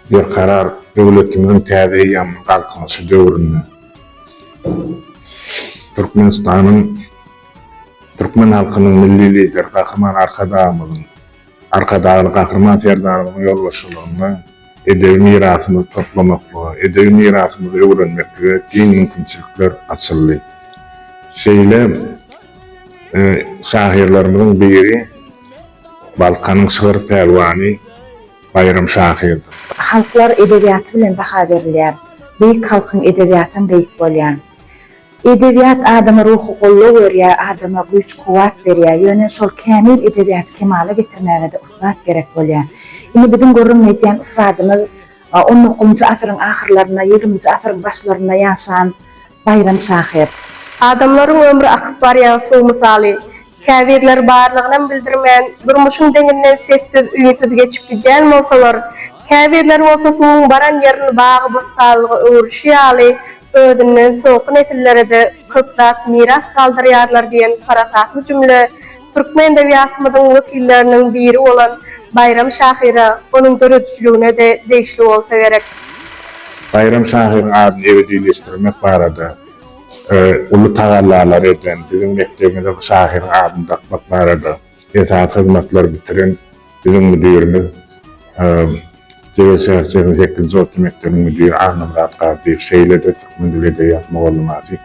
berkarar döwletimiziň täze eýýamynyň Galkynyşy döwründe Türkmenistanyň, türkmen halkynyň Milli Lideri Gahryman Arkadagymyzyň Arkadagly Gahryman Serdarymyzyň ýolbaşçylygynda edebi mirasymyzy toplamaklyga, edebi mirasymyzy öwrenmeklige giň mümkinçilikler açyldy. Şeýle şahyrlarymyzyň biri Balkanyň şygyr pälwany Baýram şahyrdyr. Halklar edebiýaty bilen baha berilýär. Beýik halkyň edebiýatam beýik bolýar. Edebiýat adama ruhy goldaw berýär, adama güýç-kuwwat berýär. Ýöne şol kämil edebiýaty kemala getirmäge-de ussat gerek bolýar. Indi biziň gürrüň edýän ussadymyz on dokuzynjy asyryň ahyrlarynda, ýigriminji asyryň başlarynda ýaşan Baýram şahyr. Adamlaryň ömri akyp barýan suw mysaly. Käbirleri barlygynam bildirmän, durmuşyň deňinden sessiz, üýnsüz geçip gidýän bolsalar, käbirleri bolsa suwuň baran ýerini bagy-bossanlyga öwrüşi ýaly, özünden soňky nesillere-de köp zat miras galdyrýarlar diýen parasatly jümle türkmen edebiýatymyzyň wekilleriniň biri bolan Baýram şahyra, onuň döredijiligine-de degişli bolsa gerek. Baýram şahyryň adyny ebedileşdirmek barada uly tagallalary eden biziň mekdebimize bu şahyryň adyny dakmak barada, Esasy hyzmatlary bitiren biziň müdirimiz, Jebel şäherçesiniň sekizinji orta mekdebiniň müdiri Annamyrat Gardyýew, şeýle-de türkmen dili, edebiýat mugallymasy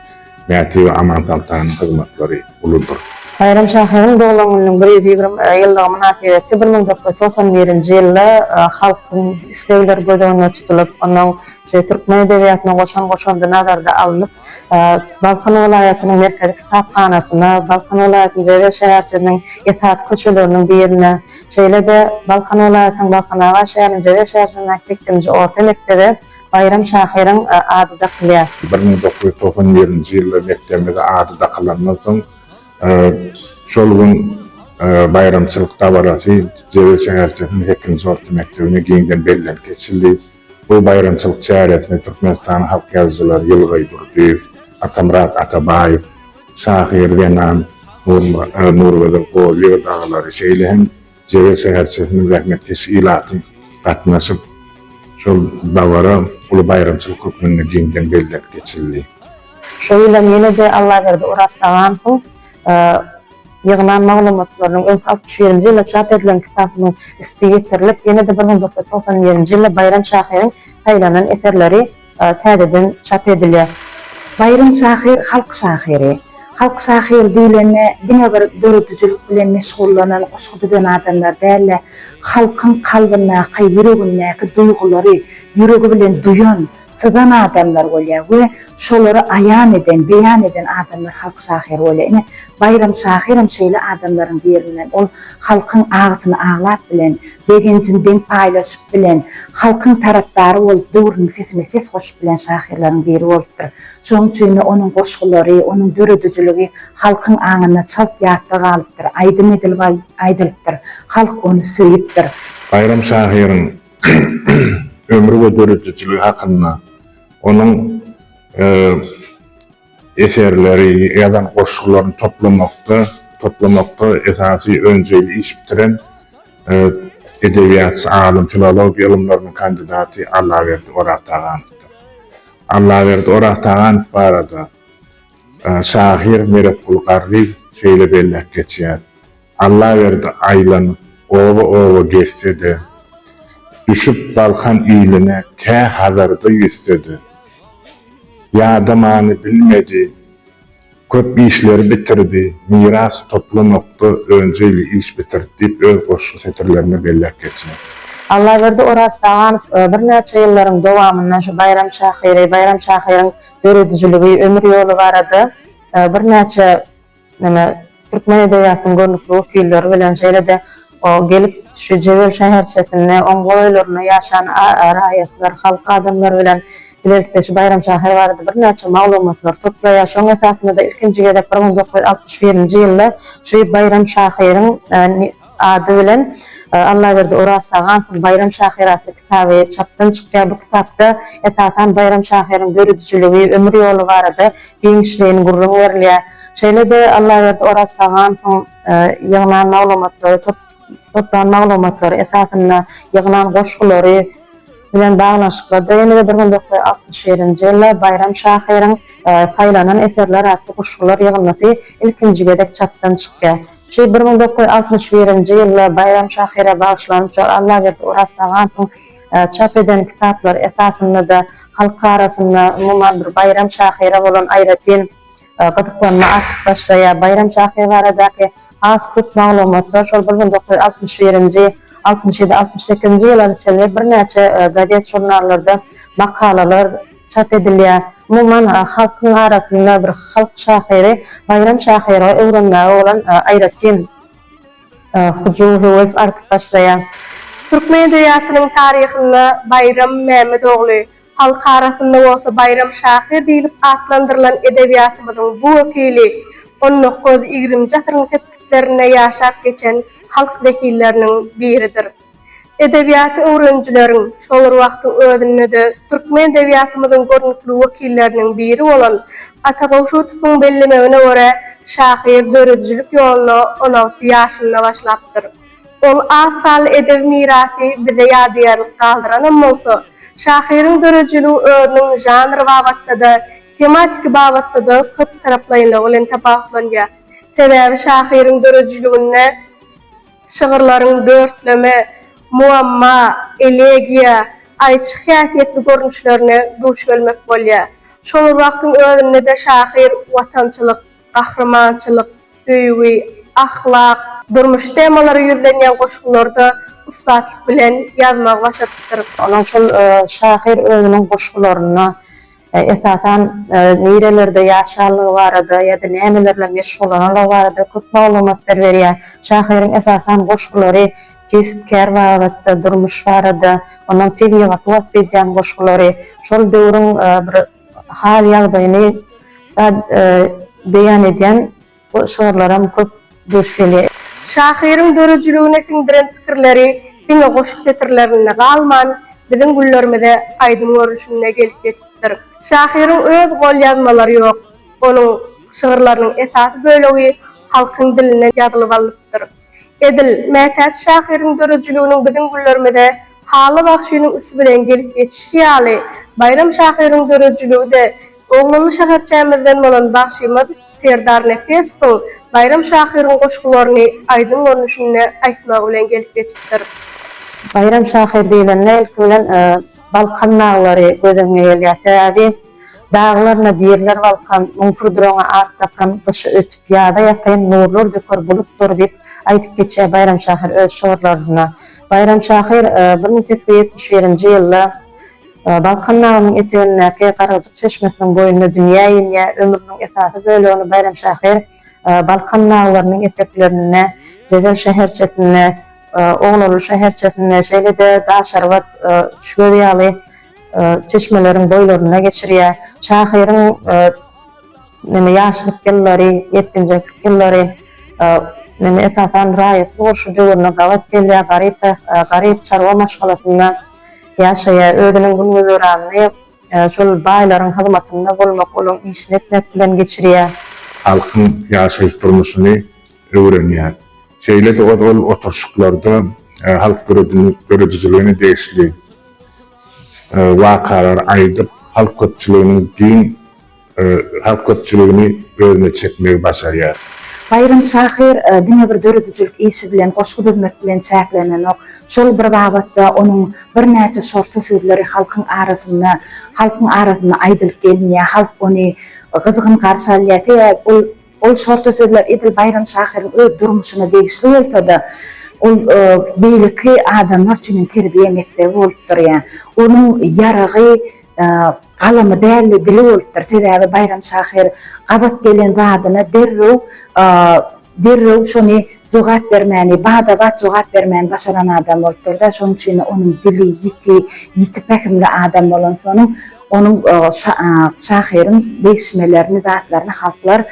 Mätiýewa Amansoltanyň hyzmatlary uludyr. Baýram şahyryň doglan gününiň bir ýüz ýigrimi ýyllygy mynasybetli bir müň dokuz ýüz togsan birinji ýylda halkyň islegleri göz öňünde tutulyp, onuň şu türkmen edebiýatyna goşan goşandy nazarda alnyp, Balkan welaýatynyň Merkezi kitaphanasyna, Balkan welaýatynyň Jebel şäherçesiniň esasy köçeleriniň birine, şeýle-de Balkan welaýatynyň Balkanabat şäheriniň Jebel şäherçesindäki sekizinji orta mekdebe Baýram şahyryň ady dakylýar. Bir müň dokuz ýüz togsan birinji ýylda mekdebimize ady dakylandan soň, şol gün baýramçylyk dabarasy Jebel şäherçesiniň sekizinji orta mekdebinde giňden bellenip geçildi. Bu baýramçylyk çäresine Türkmenistanyň halk ýazyjylary Ýylgaý Durdyýew, Atamyrat Atabaýew, şahyr zenan Nurgözel Gollyýewa dagalary, şeýle hem Jebel şäherçesiniň zähmetkeş ilaty gatnaşyp, şol dabara uly baýramçylyk hökmünde giňden bellenip geçildi. Şo ýylam ýene-de Allaberdi Oraztaganowyň Ýygnan maglumatlarynyň öňki altmyş birinji ýylda çap edilen kitabynyň üsti ýetirilip, ýene-de bir müň dokuz ýüz togsan birinji ýylda Baýram şahyryň saýlanan eserleri täzeden çap edilýär. Baýram şahyr halk şahyry. Halk şahyry diýlende diňe bir döredijilik bilen meşgullanan goşgy düzen adamlar däl-de, halkyň kalbyndaky, ýüregindäki duýgulary ýüregi bilen duýan, syzan adamlar bolýar we şolary aýan eden, beýan eden adamlar halk şahyry bolýar. Ine, Baýram şahyram şeýle adamlaryň birinden. Ol halkyň agysyny aglap bilen, begenjini deň paýlaşyp bilen, halkyň tarapdary bolup, döwrüniň sesine ses goşup bilen şahyrlaryň biri bolupdyr. Şonuň üçin-de onuň goşgulary, onuň döredijiligi halkyň aňynda çalt ýatda galypdyr, aýdym edilip aýdylypdyr, halk ony söýüpdir. Baýram şahyryň ömri we döredijiligi hakynda, onuň eserleri, ýazan goşgularyny toplamakda, toplamakda esasy önjeýli iş bitiren edebiýatçy, alym, filologiýa ylymlarynyň kandidaty Allaberdi Oraztaganowdyr. Allaberdi Oraztaganow barada şahyr Meretguly Garryýew şeýle belläp geçýär, Allaberdi aýlanyp, oba-oba gezse-de, düşüp Balkan iline kä Hazarda ýüzse-de, ýadamany bilmedi, köp işleri bitirdi, miras toplamakda önjeýli iş bitirdi diýip öz goşgy setirlerinde belläp geçýär. Allaberdi Oraztaganow birnäçe ýyllaryň dowamynda şu baýram şahyry, baýram şahyryň döredijiligi, ömür ýoly barada birnäçe. Ine, türkmen edebiýatynyň görnükli wekilleri bilen, şeýle-de o gelip şu Jebel şäherçesinde, oň golaýlarynda ýaşan raýatlar, halk adamlary bilen bilelikde şu Baýram şahyr barada birnäçe maglumatlary toplaýar. Şoň esasynda-da ilkinji gezek bir müň dokuz ýüz altmyş birinji ýylda şu Baýram şahyryň Ady bilen, Allaberdi Orazşa Gansyň Baýram şahyry atly kitaby çapdan çykýar. Bu kitapda, esasan, Baýram şahyryň döredijiligi, ömür ýoly barada giňişleýin gürrüň berilýär. Şeýle-de, Allaberdi Orazşa Gansyň ýygnan maglumatlary, toplan maglumatlary esasynda ýygnan goşgulary bilen baglanyşyklydyr. Ýene-de bir müň dokuz ýüz altmyş birinji ýylda Baýram şahyryň Saýlanan eserler atly goşgular ýygyndysy ilkinji gezek çapdan çykýar. Şy bir müň dokuz ýüz altmyş birinji ýylda Baýram şahyra bagyşlanyp, şol Allaberdi Oraztaganowyň çap eden kitaplary esasynda-da halk arasynda umuman bir Baýram şahyra bolan aýratyn gyzyklanma artyp başlaýar. Baýram şahyr baradaky has köp maglumatlar şol bir müň dokuz ýüz altmyş birinji, altmyş ýedi, altmyş sekizinji ýylara çenli birnäçe gazet-žurnallarda makalalar, çap edilýär. Umuman, halkyň arasynda bir halk şahyry Baýram şahyry öwrenmäge bolan aýratyn hyjuw-höwes artyp başlaýar. Türkmen edebiýatynyň taryhynda Baýram Mämmet ogly, halk arasynda bolsa Baýram şahyr diýlip atlandyrylan edebiýatymyzyň bu wekili on dokuz, ýigrimji asyryň sepgitlerinde ýaşap geçen halk wekilleriniň biridir. Edebiýaty öwrenijileriň, şol bir wagtyň özünde-de türkmen edebiýatymyzyň görnükli wekilleriniň biri bolan Ata Gowşutowyň bellemegine görä, şahyr döredijilik ýoluna on alty ýaşynda başlapdyr. Ol az sanly edebi mirasy bize ýadygärlik galdyranam bolsa, şahyryň döredijiligi özüniň žanr babatda-da, tematiki babatda-da köptaraplaýynlygy bilen tapawutlanýar. Sebäbi şahyryň döredijiliginde. Şygyrlaryň dörtleme, muamma, elegiýa, aýçy häsiýetli görnüşlerine duş gelmek bolýar. Şol bir wagtyň özünde-de şahyr watançylyk, gahrymançylyk, söýgi, ahlak, durmuş temalary ýüzlenýän goşgularda ussatlyk bilen ýazmagy başarypdyr. Onuň üçin şahyr özüniň goşgularynda esasan, nirelerde ýaşanlygy barada ýa-da nämelerle meşgullananlygy barada köp maglumatlar berýär. Şahyryň esasan goşgulary kesp-kär babatda, durmuş barada, ondan tebigaty wasp edýän goşgulary, şol döwrüň bir hal-ýagdaýyny beýan edýän. Bu şygyrlaram köp duş gelýär. Şahyryň döredijiligine siňdiren pikirleri diňe goşgy setirlerinde galman, biziň güllerimize aýdym görnüşinde gelip ýetipdir. Şahyryň öz golýazmalary ýok. Onuň şygyrlarynyň esasy bölegi halkyň dilinden ýazylyp alnypdyr. Edil, mätäç şahyryň döredijiliginiň biziň günlerimize Hally bagşynyň üsti bilen gelip geçişi ýaly, Baýram şahyryň döredijiligi-de Oglanly şäherçämizden bolan bagşymyz Serdar Nepesowyň Baýram şahyryň goşgularyny aýdym görnüşinde aýtmagy bilen gelip ýetipdir. Baýram şahyr diýlende, ilki bilen Balkan naglary göz öňüňe gelýär. Sebäbi. Daglaryna diriler balkan, Müň pürdraňa at dakan, Gyşy ötüp, ýaza ýakyn, Nurlar döker bulutlar diýip, aýdyp geçýär Baýram şahyr öz şygyrlarynda. Baýram şahyr bir müň sekiz ýüz ýetmiş birinji ýylda Balkan nagynyň etegindäki Gargyjyk çeşmesiniň boýunda dünýä inýär. Ömrüniň esasy bölegini Baýram şahyr Balkan naglarynyň eteklerinde, Jezel şäherçesinde, Oglaluw şäherçesinde, şeýle-de Daşarbat, Üçgöz ýaly çeşmeleriň boýlarynda geçirýär. Şahyryň näme ýaşlyk ýyllary, ýetginjeklik ýyllary näme esasan raýatlyk urşy döwrüne gabat gelýär. Garyp garyp çarwa maşgalasynda ýaşaýar. Özüniň gün-güzeranyny şol baýlaryň hyzmatynda bolmak, olaryň işini etmek bilen geçirýär. Halkyň ýaşaýyş-durmuşyny öwrenýär. Şeýle-de ol oturyşyklarda halk döredijiligine degişli. wakalary aýdyp, halk köpçüliginiň giň halk köpçüligini özüne çekmegi başarýar. Baýram şahyr diňe bir döredijilik işi bilen, goşgy düzmek bilen çäklenenok. Şol bir babatda onuň birnäçe şorta sözleri halkyň arasynda halkyň arasynda aýdylyp gelinýär, halk ony gyzgyn garşy alýar. Sebäbi ol. Ol şorta sözler edil Baýram şahyryň öz durmuşyna degişli bolsa-da, ol beýleki adamlar üçin hem terbiýe mekdebi bolupdyr. Ýa onuň ýaragy galamy däl-de, dili bolupdyr. Sebäbi Baýram şahyr gabat gelen zadyna derrew derrew şony jogap bermäni, bada-bat jogap bermäni başaran adam bolupdyr-da, şonuň üçin-de onuň dili ýiti, ýiti pähimli adam bolansonuň, Onuň şahyryň degişmelerini, zatlaryny halklar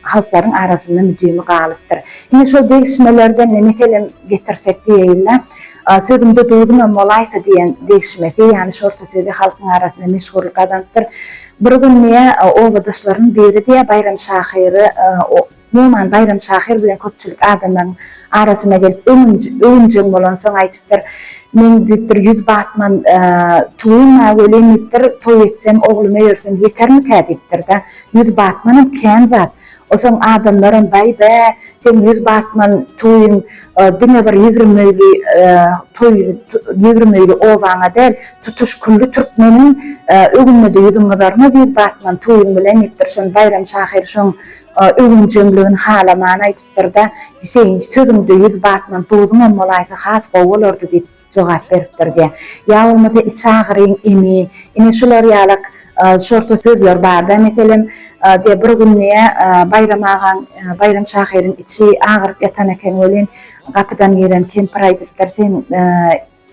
halklaryň arasynda müdimi galypdyr. Ine, şol degişmelerden ne meselem getirsek diýeýin-le, Sözümde duzumam bolaýsa diýen degişmesi, ýagny şorta sözi halkyň arasynda meşhurlyk gazanypdyr. Bir gün diýýär, obadaşlarynyň biri diýýär Baýram şahyry, Noman Baýram şahyr bilen köpçülik adamlaryň arasyna gelip, öwünjeň bolansoň aýdypdyr, Men diýipdir, ýüz batman tuwym-a welin diýipdir, toý etsem, oglum öýersem ýetermikä diýipdir-de, ýüz batmanam kän zat. Osoň adamlaram, Baý-bä, seň ýüz batman tuwyň diňe bir ýigrimi öýli toý, ýigrimi öýli obaňa däl, tutuş külli türkmeniň öwünine-de ýüzüň gyzarmaz ýüz batman tuwyň bilen diýipdir. Şony Baýram şahyr şoň Öwünjeňligini halamany aýdypdyr-da, Hüseýin, sözüňde ýüz batman, duzuňam bolaýsa has gowy bolardy diýip jogap beripdir diýýär. Ýa bolmasa iç agyryň emi, ine şular ýalak şorta sözler bar-da. Meselem, diýýär, bir gün diýýär, Baýram agaň, Baýram şahyryň içi agyryp ýatan eken welin, gapydan giren kempir aýdypdyr, Sen,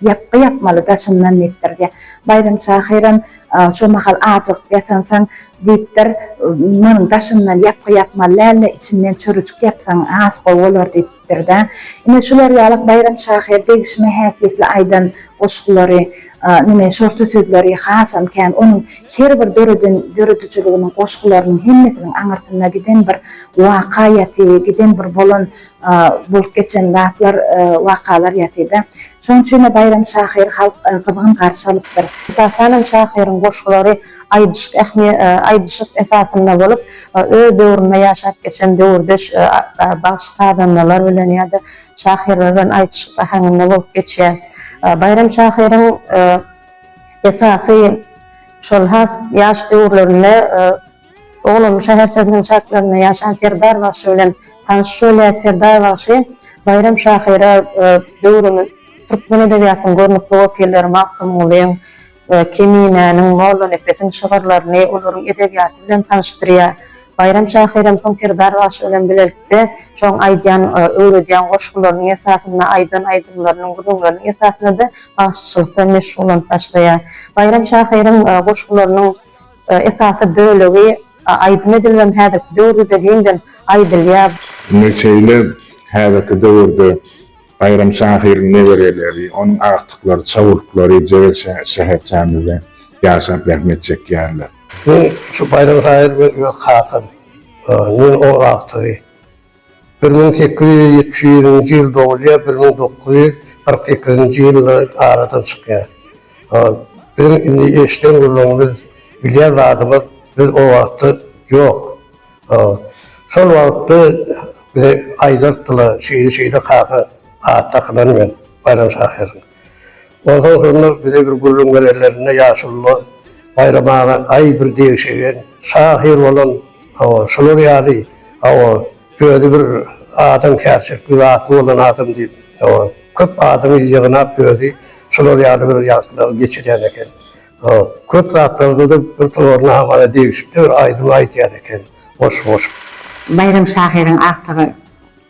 Ýapgy ýapmaly daşyndan diýipdir. Baýram şahyram Şo mahal ajygyp ýatansoň diýipdir, Munuň daşyndan ýapgy ýapmaly däl-de, içinden çörejik ýapsaň has gowy bolar diýipdir-dä. Ine, şular ýalak Baýram şahyr degişme häsiýetli aýdan goşgulary, neme, şorta sözleri hasam kän. Onuň her bir döreden döredijiliginiň, goşgularynyň hemmesiniň aňyrsynda giden bir waka ýaty, giden bir bolan bolup geçen zatlar, wakalar ýatyda. Şonuň üçin-de baýramy şahyry halk gyzgyn garşy alypdyr. Esasan hem şahyryň goşgulary aýdyşyk esasynda bolup, öz döwründe ýaşap geçen döwürdeş bagşy-sazandalar bilen ýa-da şahyrlar bilen aýdyşyk äheňinde bolup geçýär. Baýram şahyryň esasy şol has ýaş döwürlerinde Ogully şäherçesiniň çatlarynda ýaşan Serdar bagşy bilen tanyş Şöhleýat Serdar bagşy Baýram şahyra döwrümiz türkmen edebiýatynyň görnükli wekilleri Magtymgulyň, Keminäniň, Mollanepesiň şygyrlaryny, olaryň edebiýaty bilen tanyşdyrýar. Baýram şahyram soň Serdar bagşy bilen bilelikde şoň aýdýan, öwredýän goşgularynyň esasynda, aýdan aýdymlarynyň, gürrüňleriniň esasynda-da bagşyçylykda meşgullanyp başlaýar. Baýram şahyryň goşgularynyň. esasy bölegi aýdym edilip hem häzirki döwürde-de giňden aýdylýar. Indi şeýle häzirki döwürde Baýram şahyryň nebereleri, onuň agtyklary, çagurtlary Jebel şäherçämizde ýaşap zähmet çekýärler. Men şu Baýram şahyr öz kakam, men oň agtygy. Bir müň sekiz ýüz ýetmiş birinji ýyl dogulýar, bir müň dokuz ýüz kyrk sekizinji ýylda aradan çykýar. Biziň indi eşiden gürrüňimiz, bilýän zadymyz biz o wagtda ýok. Şol wagtda bize aýdardylar, şeýle-şeýle kaka at dakylan men Baýram şahyryň. Onsoň şonda bize bir gürrüň berenlerinde ýaşulylar Baýram aga aý bir degşegen şahyr bolan hawa şular ýaly hawa özi bir adamkärçilik bir zatly bolan adam diýip hawa köp adamy ýygnap özi şular ýaly bir ýagtylary geçirýän eken hawa köp zatlarda-da bir tomaryna hamana degişip-de bir aýdym aýdýan eken goşgy goşup. Baýram şahyryň agtygy.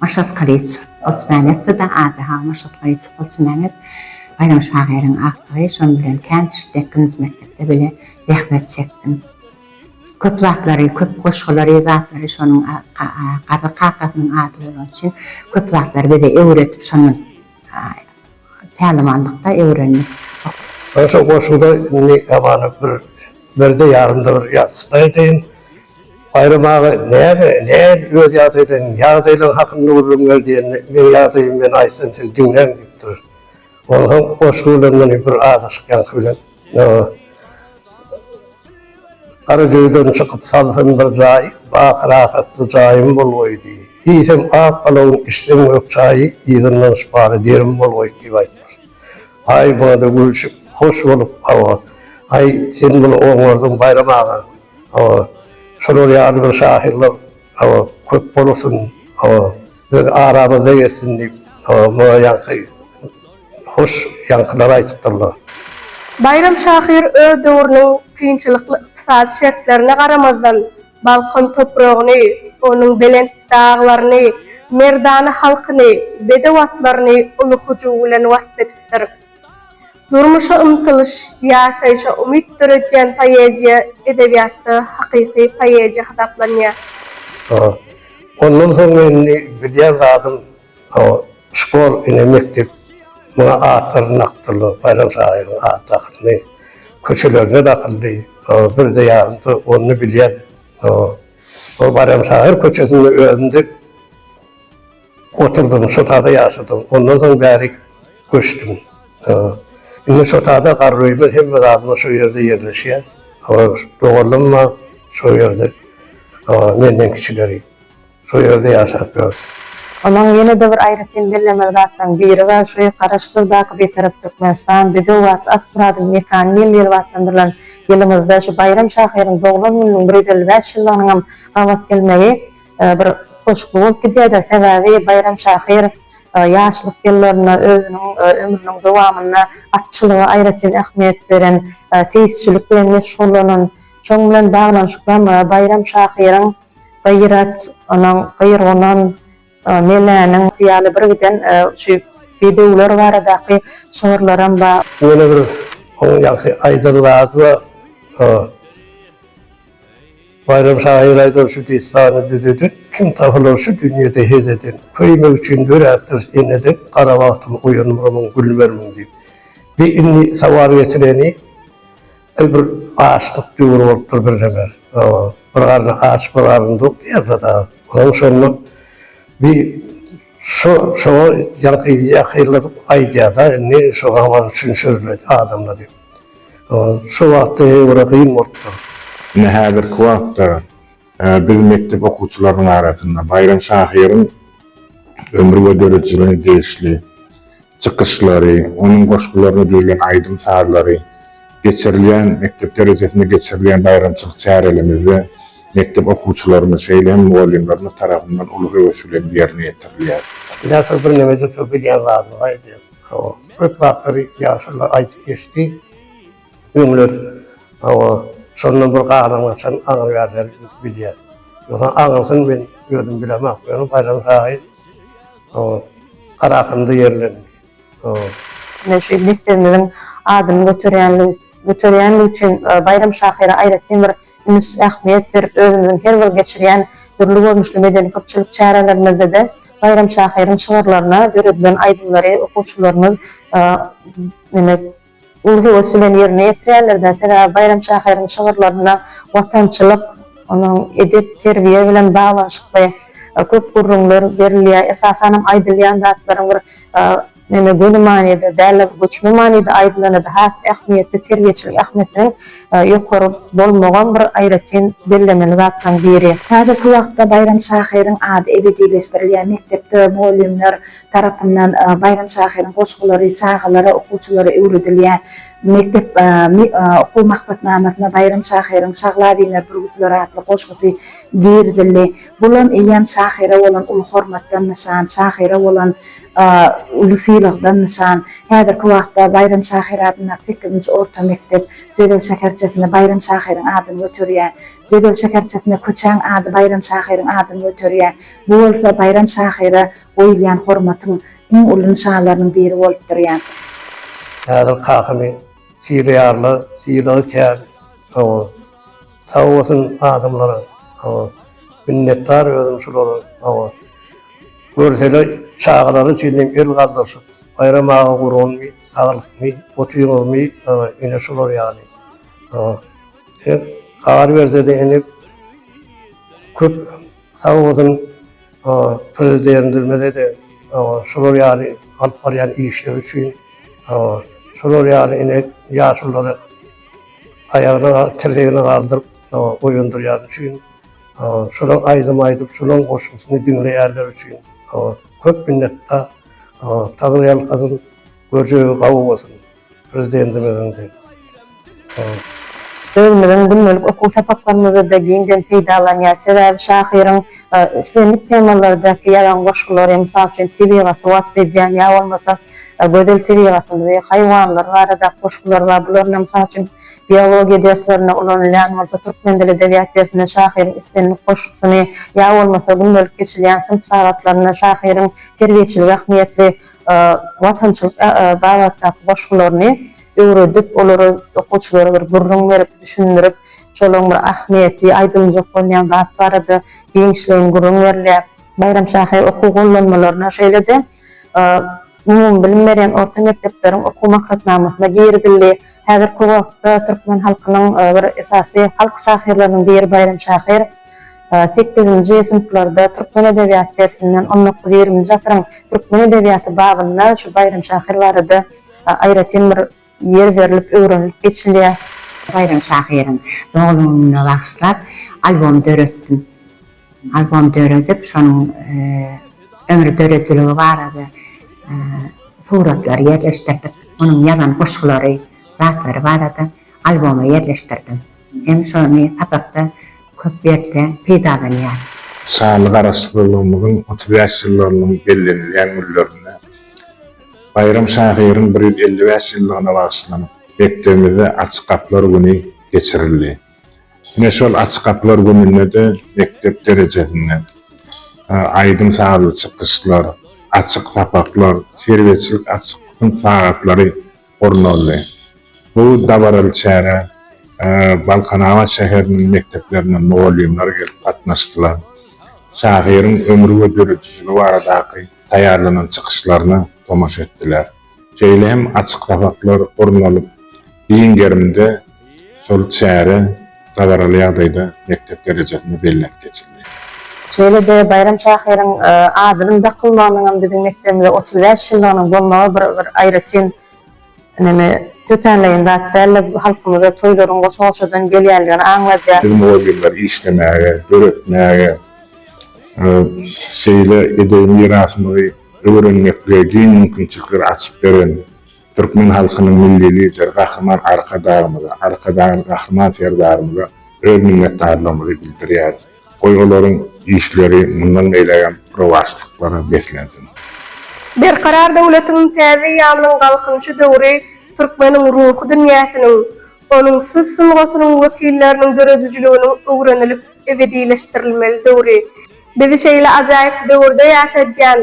Maşat Galyçow, Golçymämmetde-de ady Hawa Maşat Galyçow Golçymämmet Baýram şahyryň agtygy, şonuň bilen kän düşdi, ikinji mekdepde bile zähmet çekdim. Köp zatlary, köp goşgulary, zatlary şonuň Garry kakasynyň ady bolany üçin köp zatlary bize öwredip, şondan. Päliwanlykda öwrendik. Goşa goşunda indi gabany bir birde ýarymda bir ýatlaýdaýyn. Baýram aga näme, näl öz ýagdaýlaň, ýagdaýlaň hakynda gürrüň ber diýende, meň ýagdaýymy men aýtsam siz diňläň diýipdir. Onsoň goşgy bilen muny bir azaşykýanky bilen. Garagöýden çykyp salsyn bir jaý, Baky rahatly jaýym bolgaý diý. Diýsem, ak balagyň işleň gök çaýy, Yzyndan şypaly derim bolgaý diýip aýtmyş. Aý buna-da gülşüp, hoş bolup, Hawa, aý, sen muny oňardyň, Baýram aga, hawa, şolar ýaly bir şahyrlar, hawa, köp bolsun, hawa, biz aramyzda gezsin diýip, hawa, muňa ýaňky. hoş ýaňkylar aýdypdyrlar. Baýram şahyr öz döwrüniň kynçylykly ykdysady şertlerine garamazdan, Balkan topragyny, onuň belent daglaryny, merdana halkyny, bedew atlaryny uly hyjuw bilen wasp edipdir. Durmuşa ymtylyş, ýaşaýşa umyt döredýän poeziýa edebiýatda hakyky poeziýa hasaplanýar. Ondan soň indi bilýän zadym O Şkol ine mekdep muňa atlaryny dakdyrlar, Baýram şahyryň at dakyny köçelerine dakyldy. O birde ýarymsy ony bilýän o ol Baýram şahyr köçesinde özüm dek oturdym, şo tada ýaşadym. Ondan soň bäri göçdüm. O indi şo tada garry öýümiz hemme zadymyz şo ýerde ýerleşýä. O doganlarym-a şo ýerde. O menden kiçileri. Şu ýerde ýaşap ýör. Onuň ýene-de bir aýratyn bellemeli zatlaryň biri bar, şu Garaşsyzdaky Bitarap Türkmenistan biziň wagt at Myradyň mekany ýyl diýlip atlandyrylan ýylymyzda şu Baýram şahyryň doglan gününiň bir ýüz elli bäş ýyllygynyň hem gabat gelmegi bir utgaşykly bolup gidýär-de. Sebäbi Baýram şahyr ýaşlyk ýyllarynda özüniň ömrüniň dowamynda atçylyga aýratyn ähmiýet beren, seýisçilik bilen meşgullanan, şoň bilen baglanyşykly hem Baýram şahyryň Gyrat, onuň Gyrgunun, Meläniň ýaly birgiden şu bedewler baradaky şygyrlaram bar. Ýene bir onuň ýagşy aýdan zady bar. Baýram şahyr aýdan şu dessany düzedin, Kim tapylar şu dünýede hez eden? Köýmek üçin döräpdiris eneden, Gara bagtym oýanmyrmyň, gülmermiň diýip. Bi indi sawar getireni. Ol bir açlyk döwri bolupdyr birdener. Bir garry aç, bir garry tok diýerler dagy. Onuň şonda bi şo şoňa ýaňky ýakylyp aýdýar-da, indi şo zaman üçin sözle adamda diýip. Şo wagtda ýene-de kyn bolupdyr. Ine häzirki wagtda biz mekdep okuwçylarynyň arasynda Baýram şahyryň ömri we döredijiligine degişli çykyşlary, onuň goşgularyna düzülen aýdym-sazlary, geçirilýän, mekdep derejesinde geçirilýän baýramçylyk çärelemizde mekdep okuwçylarymyz, şeýle hem mugallymlarymyz tarapyndan uly höwes bilen ýerine ýetirilýär. Ýaşuly birneme juda bilýän zadyny aýdýar. Köp zatlary ýaşuly aýdyp geçdi. Öňler hawa şondan bir galam gaçan agyr ýaly bilýär. Ýogsa agyrsyn men özüm bilemok. Ýöne Baýram şahyr hawa Garahanda ýerlendi. Hawa. Ine şu desterimiziň adyny göterýänligi göterýänligi üçin Baýram şahyra aýratyn bir üns ähmiýet berip özümiziň her bir geçirýän dürli görnüşli medeni köpçülik çärelerimizde-de Baýram şahyryň şygyrlaryna döredilen aýdymlary okuwçylarymyz uly höwes bilen ýerine ýetirýärler-de, sebäbi Baýram şahyryň şygyrlarynda watançylyk, onuň edep, terbiýe bilen baglanyşykly köp gürrüňler berilýär. Esasanam aýdylýan zatlaryň bir neme göni manyda däl-de, göçme manyda aýdylany-da has ähmiýetli, terbiýeçilik ähmiýetiniň ýokary bolmagam bir aýratyn bellemeli zatlaryň biri. Häzirki wagtda Baýram şahyryň ady ebedileşdirilýär, mekdepde mugallymlar tarapyndan Baýram şahyryň goşgulary çagalara, okuwçylara öwredilýär. Mekdep okuw maksatnamasyna Baýram şahyryň Şagla biner bürgütler atly goşgusy girizildi. Bulam eýýäm şahyra bolan uly hormatdan nyşan, şahyra bolan uly sylagdan nyşan. Häzirki wagtda Baýram şahyr adyndaky sekizinji orta mekdep Jebel şäherçesinde Baýram şahyryň adyny göterýär. Jebel şäherçesinde köçäň ady Baýram şahyryň adyny göterýär. Bu bolsa Baýram şahyra Goýulýan hormatyň iň uly nyşanlarynyň biri bolup durýar. Häzir kakamy sylaýarlar, sylagy kän, hawa. Sag bolsun adamlara, hawa. Minnetdar özüm şulara, hawa. Görseler çagalary üçin hem el galdyrşyp, Baýram aga gurgunmy, saglykmy, otyňyzmy, hawa, ine şular ýaly, hawa. Eger gar berse-de ene köp Sag bolsun Prezidentimize de şular ýaly alyp barýan işleri üçin şular ýaly ine ýaşululary aýagyna tirzegine galdyryp oýandyrýan üçin şular aýdym aýdyp şularyň goşgusyny diňleýänler üçin köp minnetdar Taňry ýalkasyn göjegi gawy bolsun. Prezidentimiziň diýip. Özümiziň gündelik okuw sapaklarymyzda-da giňden peýdalanýar. Sebäbi şahyryň islendik temalardaky ýazan goşgulary, mysal üçin, tebigaty wasp edýän ýa bolmasa gözel tebigatymyzy, haýwanlar baradaky goşgulary bar. Bularyny, mysal üçin, biologiýa derslerinde ulanylýan bolsa, türkmen dili, edebiýat dersinde şahyryň islendik goşgusyny ýa bolmasa gündelik geçilýän synp sagatlarynda şahyryň terbiýeçilik ähmiýetli watançylyk babatdaky goşgularyny öwredip, olary okuwçylara bir gürrüň berip, düşündirip, şolaryň bir ahmiýeti, aýdyljak bolýan zat barada giňişleýin gürrüň berilýär. Baýram şahyr okuw gollanmalaryna, şeýle-de umumybilim berýän orta mekdepleriň okuw maksatnamasyna girizildi. Häzirki wagtda türkmen halkynyň bir esasy halk şahyrlarynyň biri Baýram şahyr. Sekizinji synplarda türkmen edebiýaty dersinden on dokuz-ýigrimi asyryň türkmen edebiýaty babynda şu Baýram şahyr barada aýratyn bir ýer berlip öwrenilip geçilýär. Baýram şahyryň doglan gününe bagyşlap albom döretdim. Albom döredip, şonuň ömri döredijiligi barada suratlary ýerleşdirdik. Onuň ýazan goşgulary, zatlary barada alboma ýerleşdirdim. Hem şony sapakda köp ýerde peýdalanýar. Şanly Garaşsyzlygymyzyň otuz bäş ýyllygynyň bellenilýän günlerinde Baýram şahyryň bir ýüz elli bäş ýyllygyna bagyşlanyp, mekdebimizde Açyk gapylar güni geçirildi. Ine, şol Açyk gapylar gününde-de mekdep derejesinde aýdym-sazly çykyşlar, açyk sapaklar, terbiýeçilik açyk synp sagatlary gurnaldy. Bu dabaraly çärä Balkanabat şäheriniň mekdeplerinden mugallymlar gelip gatnaşdylar. Şahyryň ömri we döredijiligi baradaky taýýarlanan çykyşlaryna tomaşa etdiler. Şeýle hem açyk sapaklar gurnalyp, giň gerimde Şol çäre dabaraly ýagdaýda mekdep derejesinde bellenip geçildi. Şeýle-de Baýram şahyryň adynyň dakylmagynyň hem biziň mekdebimize otuz bäş ýyllygynyň bolmagy bir aýratyn näme tötänleýin zat däldi. Bu halkymyzda toýlaryň goşa-goşadan gelýändigini aňladýar. Biz mugallymlar işlemäge, döretmäge, şeýle edebi mirasymyzy öwrenmeklige giň mümkinçilikleri açyp beren Türkmen halkynyň Milli Lideri Gahryman Arkadagymyza, Arkadagly Gahryman Serdarymyza öz minnetdarlygymyzy bildirýäris. Goý olaryň işleri mundan beýlägem rowaçlyklara beslensin. Berkarar döwletimiň täze ýalynyň Galkynyşy döwri türkmeniň ruhy dünýäsiniň, Onuň söz sungatynyň wekilleriniň döredijiliginiň öwrenilip ebedileşdirilmeli döwri. Bizi şeýle ajaýyp döwürde ýaşadýan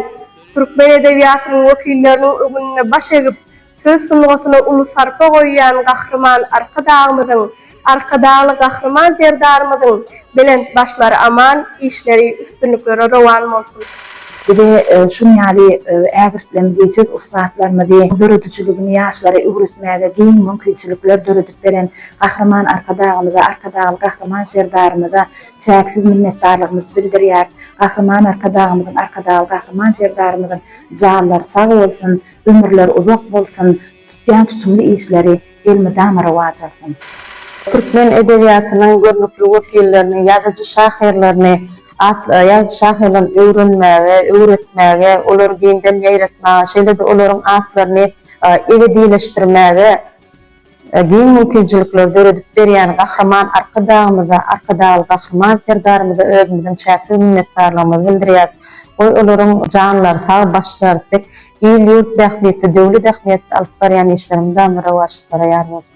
türkmen edebiýatynyň wekilleriniň öňünde baş egip, söz sungatyna uly sarpa goýýan Gahryman Arkadagymyzyň, Arkadagly Gahryman Serdarymyzyň Belent başlary aman, işleri, üstünlikleri rowan bolsun! Bize şuny ýaly ägirtlemzi, söz ussatlarymyzy, döredijiligini ýaşlara öwretmäge giň mümkinçilikler döredip beren Gahryman Arkadagymyza, Arkadagly Gahryman Serdarymyza çäksiz minnetdarlygymyzy bildirýäris. Gahryman Arkadagymyzyň, Arkadagly Gahryman Serdarymyzyň janlary sag bolsun, ömürleri uzak bolsun! Tutýan tutumly işleri elmydama rowaç alsyn. Türkmen edebiýatynyň görnükli wekillerini, ýazyjy-şahyrlaryny atly ýazyjy-şahyrlaryny öwrenmäge, öwretmäge, olary giňden ýaýratmaga, şeýle-de olaryň atlaryny ebedileşdirmäge giň mümkinçilikleri döredip berýän Gahryman Arkadagymyza, Arkadagly Gahryman Serdarymyza özümiziň çäksiz minnetdarlygymyzy bildirýäris. Goý, olaryň janlary sag, başlary dik, Il-ýurt bähbitli döwlet ähmiýetli alyp barýan işleriň dam rowaçlyklara ýar bolsun!